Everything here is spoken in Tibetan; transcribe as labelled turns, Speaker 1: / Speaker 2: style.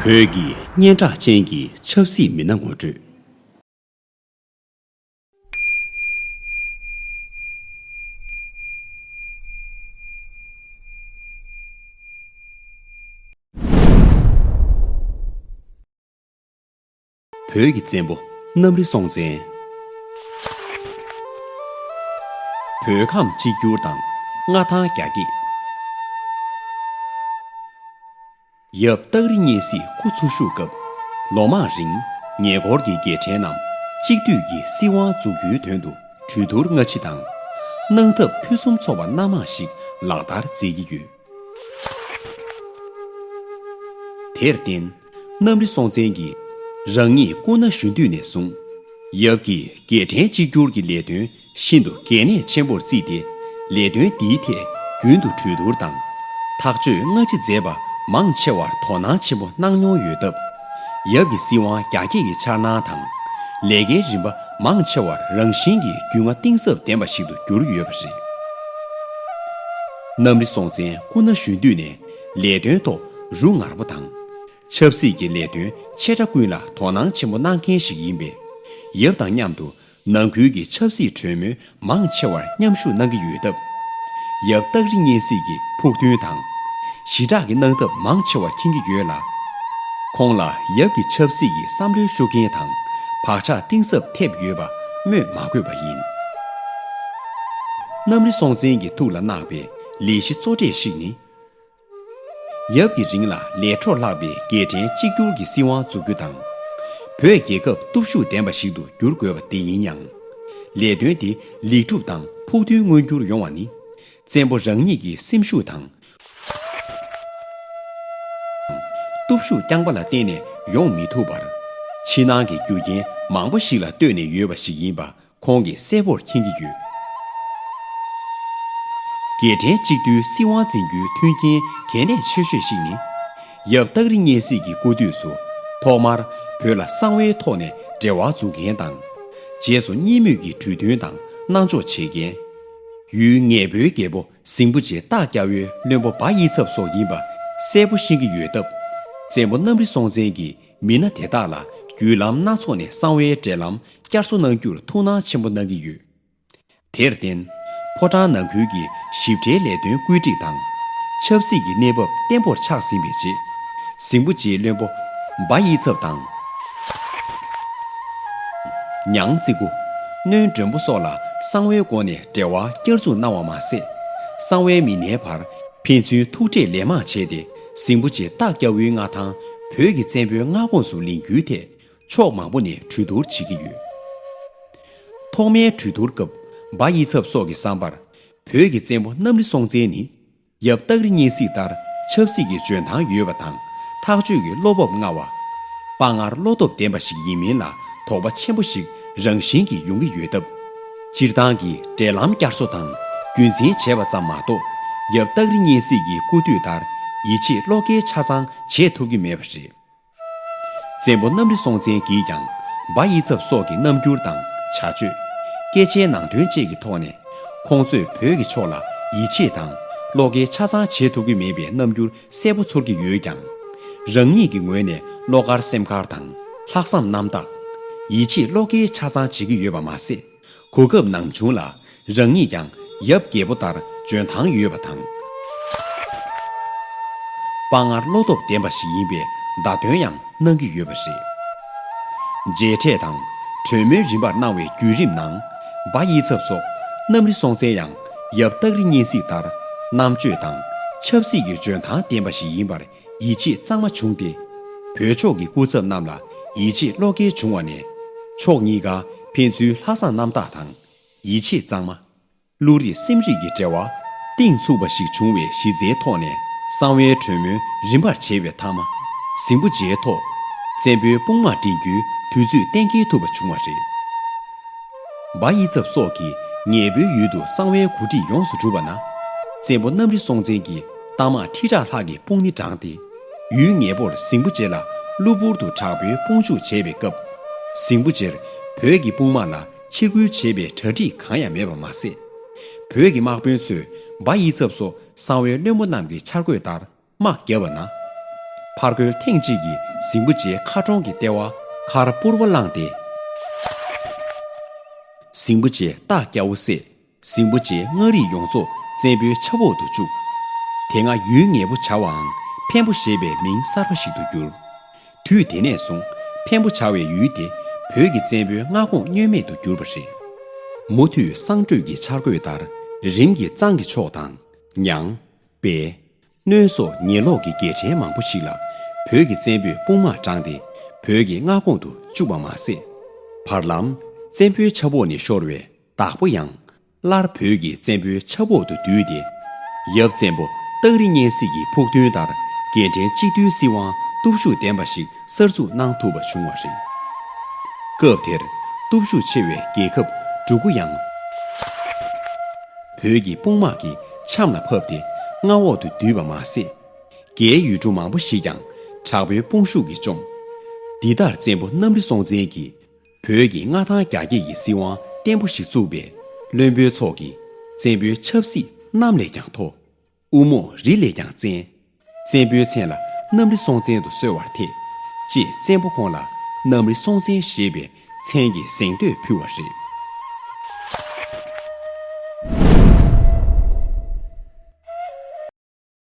Speaker 1: བོད་ཀྱི་སྙན་གྲགས་ཅན་གྱི་ཆབ་སྲིད་མི་སྣ་ངོ་སྤྲོད། བོད་ཀྱི་བཙན་པོ་གནམ་རི་སྲོང་བཙན། བོད་ཁམས་གཅིག་གྱུར་དང་མངའ་ཐང་རྒྱ་སྐྱེད། ཡབ་སྟག་རི་གཉན་སྲིད་ཁུ་ཚུར་བཞུགས་སྐབས་ལོ་མང་རིང་ཉེ་འཁོར་གྱི་རྒྱལ་ཕྲན་རྣམས་གཅིག་བསྡུས་ཀྱི་སྲིད་དབང་འཛུགས་རྒྱུའི་དོན་དུ་གྲོས་བསྡུར་སྔ་ཕྱི་དང། གནང་ཐབས་ཕུན་སུམ་ཚོགས་པ་སྣ་མང་ཞིག་ལག་བསྟར་མཛད་ཀྱི་ཡོད། དེར་བརྟེན། གནམ་རི་སྲོང་བཙན་གྱིས། རང་ཉིད་སྐུ་ན་གཞོན་དུས་ནས་བཟུང། ཡབ་ཀྱིས་རྒྱལ་ཕྲན་གཅིག་གྱུར་གྱི་ལས་དོན་ཤིན་ཏུ་གལ་གནད་ཆེན་པོར་བརྩིས་ཏེ། ལས་དོན་འདིའི་ཐད་རྒྱུན་དུ་གྲོས་བསྡུར་དང། ཐག་གཅོད་སྔ་ཕྱི་མཛད་པ་མང་ཆེ་བར་དོ་སྣང་ཆེན་པོ་གནང་མྱོང་ཡོད་སྟབས། ཡབ་ཀྱི་སྲིད་དབང་རྒྱ་སྐྱེད་ཀྱི་འཆར་སྣང་དང། ལས་ཀའི་རིམ་པ་མང་ཆེ་བར་རང་བཞིན་གྱིས་རྒྱུས་མངའ་གཏིང་ཟབ་ལྡན་པ་ཞིག་ཏུ་གྱུར་ཡོད་པ་རེད། གནམ་རི་སྲོང་བཙན་སྐུ་ན་གཞོན་དུས་ནས་ལས་དོན་ཐོག་རུ་ངར་པོ་དང། ཆབ་སྲིད་ཀྱི་ལས་དོན་ཆེ་ཕྲ་ཀུན་ལ་དོ་སྣང་ཆེན་པོ་གནང་མཁན་ཞིག་ཡིན་པས། ཡབ་དང་མཉམ་དུ་ནང་ཁུལ་གྱི་ཆབ་སྲིད་གྲོས་མོལ་མང་ཆེ་བར་མཉམ་ཞུགས་གནང་གི་ཡོད་སྟབས། ཡབ་སྟག་རི་གཉན་གཟིགས་ཀྱི་ཕུགས་འདུན་དང། ཞི་དྲག་གི་གནང་ཐབས་མང་ཆེ་བ་མཁྱེན་གྱི་ཡོད་ལ། ཁོང་ལ་ཡབ་ཀྱི་ཆབ་སྲིད་ཀྱི་བསམ་བློའི་ཤུགས་རྐྱེན་དང་བག་ཆགས་གཏིང་ཟབ་ཐེབས་ཡོད་པ་སྨོས་མ་དགོས་པ་ཡིན། གནམ་རི་སྲོང་བཙན་གྱི་ཐུགས་ལ་བརྣགས་པའི་ལས་གཞི་གཙོ་གྲས་ཤིག་ནི། ཡབ་ཀྱི་རིང་ལ་ལས་འཕྲོར་ལྷགས་པའི་རྒྱལ་ཕྲན་གཅིག་གྱུར་གྱི་སྲིད་དབང་འཛུགས་རྒྱུ་དང། བོད་རྒྱལ་ཁབ་སྟོབས་ཤུགས་ལྡན་པ་ཞིག་ཏུ་བསྒྱུར་དགོས་པ་དེ་ཡིན་ཡང། ལས་དོན་དེ་ལེགས་འགྲུབ་དང་ཕུགས་འདུན་མངོན་འགྱུར་ཡོང་བ་ནི། བཙན་པོ་རང་ཉིད་ཀྱི་སེམས་ཤུགས་དང། སྟོབས་ཤུགས་རྐྱང་པ་ལ་བརྟེན་ནས་ཡོང་མི་ཐུབ་པར། ཕྱི་ནང་གི་རྒྱུ་རྐྱེན་མང་པོ་ཞིག་ལ་ལྟོས་ནས་ཡོད་པ་ཞིག་ཡིན་པ་ཁོང་གིས་གསལ་བོར་མཁྱེན་གྱི་ཡོད། རྒྱལ་ཕྲན་གཅིག་བསྡུས་སྲིད་དབང་འཛིན་རྒྱུའི་མཐུན་རྐྱེན་གལ་གནད་ཆེ་ཤོས་ཤིག་ནི། ཡབ་སྟག་རི་གཉན་སྲིད་ཀྱི་སྐུ་དུས་སུ་ཐོག་མར་བོད་ལ་གསང་བའི་ཐོག་ནས་འབྲེལ་བ་འཛུགས་མཁན་དང། རྗེས་སུ་གཉིས་མོས་ཀྱི་གྲོས་མཐུན་དང་གནང་འཇོག་བྱེད་མཁན། ཡུལ་ངེས་པོའི་རྒྱལ་པོ་ཟིང་པོ་རྗེ་སྟག་སྐྱ་བོའི་བློན་པོ་འབའ་དབྱི་ཚབ་སོགས་ཡིན་པ་གསལ་བོ་ཤེས་ཀྱི་ཡོད་སྟབས། བཙན་པོ་གནམ་རི་སྲོང་བཙན་གྱིས་མི་སྣ་དེ་དག་ལ་བརྒྱུད་ལམ་སྣ་ཚོགས་ནས་གསང་བའི་འབྲེལ་ལམ་བསྐྱར་གསོ་གནང་རྒྱུར་ཐུགས་སྣང་ཆེན་པོ་གནང་གི་ཡོད། དེར་བརྟེན། ཕོ་བྲང་ནང་ཁུལ་གྱི་ཞིབ་ཕྲའི་ལས་དོན་བཀོད་སྒྲིག་དང། ཆབ་སྲིད་ཀྱི་གནས་བབ་བརྟན་པོར་ཆགས་ཟིན་པའི་རྗེས། གཟིགས་པོ་རྗེ་བློན་པོ་འབའ་དབྱིའི་ཚབ་དང། ཉང་གཙིགས་པོ། སྣོན་སྒྲོན་པོ་སོགས་ལ་གསང་བའི་སྒོ་ནས་འབྲེལ་བ་བསྐྱར་འཛུགས་གནང་བ་མ་ཟད། གསང་བའི་མི་སྣའི་བར་ཕན་ཚུན་ཐུག་འཕྲད་ལན་མང་བྱས་ཏེ། ཟིང་པོ་རྗེ་སྟག་སྐྱ་བོའི་མངའ་ཐང་བོད་ཀྱི་བཙན་པོའི་མངའ་ཁོངས་སུ་ལེན་རྒྱུའི་ཐད་ཕྱོགས་མང་པོ་ནས་གྲོས་བསྡུར་བྱེད་ཀྱི་ཡོད། ཐོག་མའི་གྲོས་བསྡུར་སྐབས་འབའ་དབྱི་ཚབ་སོགས་ཀྱི་བསམ་པར་བོད་ཀྱི་བཙན་པོ་གནམ་རི་སྲོང་བཙན་ནི་ཡབ་སྟག་རི་གཉན་གཟིགས་ལྟར་ཆབ་སྲིད་ཀྱི་འཇོན་ཐང་ཡོད་པ་དང་ཐག་གཅོད་ཀྱི་བློ་སྤོབས་མངའ་བ། དཔའ་ངར་བློ་སྟོབས་ལྡན་པ་ཞིག་ཡིན་མིན་ལ་དོགས་པ་ཆེན་པོ་ཞིག་རང་བཞིན་གྱིས་ཡོང་གི་ཡོད་སྟབས། སྤྱིར་བཏང་གི་འབྲེལ་ལམ་བསྐྱར་གསོ་དང་རྒྱུན་འཛིན་བྱས་པ་ཙམ་མ་གཏོགས་ཡབ་སྟག་རི་གཉན་སྲིད་ཀྱི་སྐུ་དུས་ལྟར་ཡིད་ཆེས་བློ་འགེལ་ཆ་ཚང་བྱེད་ཐུབ་ཀྱི་མེད་པ་རེད། བཙན་པོ་གནམ་རི་སྲོང་བཙན་གྱིས་ཀྱང་འབའ་དབྱི་ཚབ་སོགས་ཀྱི་རྣམ་འགྱུར་དང་བྱ་སྤྱོད། སྐད་ཆའི་ནང་དོན་བཅས་ཀྱི་ཐོག་ནས། ཁོང་ཚོས་བོད་ཀྱི་ཕྱོགས་ལ་ཡིད་ཆེས་དང་བློ་འགེལ་ཆ་ཚང་བྱེད་ཐུབ་ཀྱི་མེད་པའི་རྣམ་འགྱུར་གསལ་པོ་ཚོར་གྱི་ཡོད་ཀྱང། རང་ཉིད་ཀྱི་ངོས་ནས་བློ་དཀར་སེམས་དཀར་དང་ལྷག་བསམ་རྣམ་དག། ཡིད་ཆེས་བློ་འཁེལ་ཆ་ཚང་བྱེད་ཀྱི་ཡོད་པ་མ་ཟད། གོ་སྐབས་ནང་བྱུང་ལ་རང་ཉིད་ཀྱང་ཡབ་རྒྱལ་པོ་ལྟར་འཇོན་ཐང་ཡོད་པ་དང། དཔའ་ངར་བློ་སྟོབས་ལྡན་པ་ཞིག་ཡིན་པའི་བརྡ་སྟོན་ཡང་གནང་གི་ཡོད་པ་རེད། མཇལ་འཕྲད་དང་གྲོས་མོལ་རིམ་པར་གནང་བའི་བརྒྱུད་རིམ་ནང། འབའ་དབྱི་ཚབ་སོགས་གནམ་རི་སྲོང་བཙན་ཡང་ཡབ་སྟག་རི་གཉན་གཟིགས་ལྟར་རྣམ་དཔྱོད་དང་ཆབ་སྲིད་ཀྱི་འཇོན་ཐང་ལྡན་པ་ཞིག་ཡིན་པར་ཡིད་ཆེས་གཙང་མ་བྱུང་སྟེ། བོད་ཕྱོགས་ཀྱི་སྐུ་ཚབ་རྣམས་ལ་ཡིད་ཆེས་བློ་འགེལ་བྱུང་བ་ནས། ཕྱོགས་གཉིས་ཀ་ཕན་ཚུན་ལྷག་བསམ་རྣམ་དག་དང། ཡིད་ཆེས་གཙང་མ། བློ་རིག་སེམས་རིག་གི་འབྲེལ་བ་གཏིང་ཚུགས་པ་ཞིག་བྱུང་བའི་གཞི་རྩའི་ཐོག་ནས་གསང་བའི་གྲོས་མོལ་རིམ་པར་བྱས་པའི་མཐའ་མ། ཟིང་པོ་རྗེའི་ཐོག་བཙན་པོའི་དཔུང་དམག་འདྲེན་རྒྱུའི་དུས་ཚོད་གཏན་འཁེལ་ཐུབ་པ་བྱུང་བ་རེད། སྦ་དབྱི་ཚབ་སོགས་ཀྱི་ངེད་བོད་ཡུལ་དུ་གསང་བའི་གོ་སྒྲིག་ཡོངས་སུ་གྲུབ་པ་ན། བཙན་པོ་གནམ་རི་སྲོང་བཙན་གྱི་རྟགས་མ་ཁྲི་ཕྲག་ལྷག་གི་དཔུང་ནི་འབྲངས་ཏེ། ཡུལ་ངེད་པོར་ཟིང་པོ་རྗེ་ལ་གློ་བུར་དུ་དྲག་པོའི་དཔུང་འཇུག་བྱས་པའི་སྐབས། ཟིང་པོ་རྗེར་བོད་ཀྱི་དཔུང་དམག་ལ་ཕྱིར་རྒོལ་བྱེད་པའི་གྲ་སྒྲིག་གང་ཡང་མེད་པ་མ་ཟད། བོད་ཀྱི་དམག་དཔོན་ཚོས་སྦ་དབྱི་ཚབ་སོགས་གསང་བའི་བློན་པོ་རྣམས་ཀྱི་འཆར་འགོད་ལྟར། དམག་བརྒྱབ་པ་ན། ཕར་རྒོལ་ཐེངས་གཅིག་གིས་གཟིངས་པོ་རྗེའི་མཁར་གྲོང་གི་ལྟེ་བ་མཁར་སྤུར་བ་བླངས་ཏེ། གཟིངས་པོ་རྗེ་སྟག་སྐྱ་བོ་བསད། གཟིངས་པོ་རྗེའི་མངའ་རིས་ཡོངས་རྫོགས་བཙན་པོའི་ཆབ་འོག་ཏུ་བཅུག། དེ་སྔ་ཡུལ་ངེས་པོ་བྱ་བའང་འཕན་པོ་ཞེས་པའི་མིང་གསར་པ་ཞིག་ཏུ་གྱུར། དུས་དེ་ནས་བཟུང་འཕན་པོ་བྱ་བའི་ཡུལ་དེ་བོད་ཀྱི་བཙན་པོའི་མངའ་ཁོངས་བསྙོན་མེད་དུ་གྱུར་པ་རེད། མུ་མཐུད་གསང་སྤྲོས་ཀྱི་འཆར་འགོད་ལྟར་རིམ་གྱིས་གཙང་གི་ཕྱོགས་དང། ཉང། པས། སྣོད་སོགས་ཉེ་ལོགས་ཀྱི་རྒྱལ་ཕྲན་མང་པོ་ཞིག་ལ་བོད་ཀྱི་བཙན་པོས་དཔུང་དམག་དྲངས་ཏེ་བོད་ཀྱི་མངའ་ཁོངས་དུ་བཅུག་པ་མ་ཟད། བར་ལམ་བཙན་པོའི་ཆབ་འོག་ནས་ཤོར་བའི་བདག་པོ་ཡང། སླར་བོད་ཀྱི་བཙན་པོའི་ཆབ་འོག་ཏུ་བསྡུས་ཏེ། ཡབ་བཙན་པོ་སྟག་རི་གཉན་སྲིད་ཀྱི་ཕུགས་འདུན་ལྟར་རྒྱལ་ཕྲན་གཅིག་བསྡུས་སྲིད་དབང་སྟོབས་ཤུགས་ལྡན་པ་ཞིག་གསར་འཛུགས་གནང་ཐུབ་པ་བྱུང་བ་རེད། སྐབས་དེར་སྟོབས་ཤུགས་ཆེ་བའི་རྒྱལ་ཁབ་འབྲུག་གུ་ཡང། བོད་ཀྱི་དཔུང་དམག་གི་ཆམ་ལ་ཕབ་སྟེ་མངའ་འོག་ཏུ་བསྡུས་པ་མ་ཟད། རྒྱའི་ཡུལ་གྲུ་མང་པོ་ཞིག་ཀྱང་དྲག་པོའི་དཔུང་ཤུགས་ཀྱིས་བཅོམ། འདི་ལྟར་བཙན་པོ་གནམ་རི་སྲོང་བཙན་གྱིས་བོད་ཀྱི་མངའ་ཐང་རྒྱ་སྐྱེད་ཀྱི་སྲིད་དབང་བརྟན་པོ་ཞིག་བཙུགས་པས་བློན་པོའི་ཚོགས་ཀྱིས་བཙན་པོའི་ཆབ་སྲིད་གནམ་ལས་ཀྱང་མཐོ། དབུ་མོ་རི་ལས་ཀྱང་བཙན། བཙན་པོའི་མཚན་ལ་གནམ་རི་སྲོང་བཙན་དུ་གསོལ་བར་ཐེག། ཅེས་བཙན་པོ་ཁོང་ལ་གནམ་རི་སྲོང་བཙན་ཞེས་པའི་མཚན་གྱི་གཟེངས་བསྟོད་ཕུལ་བ་རེད།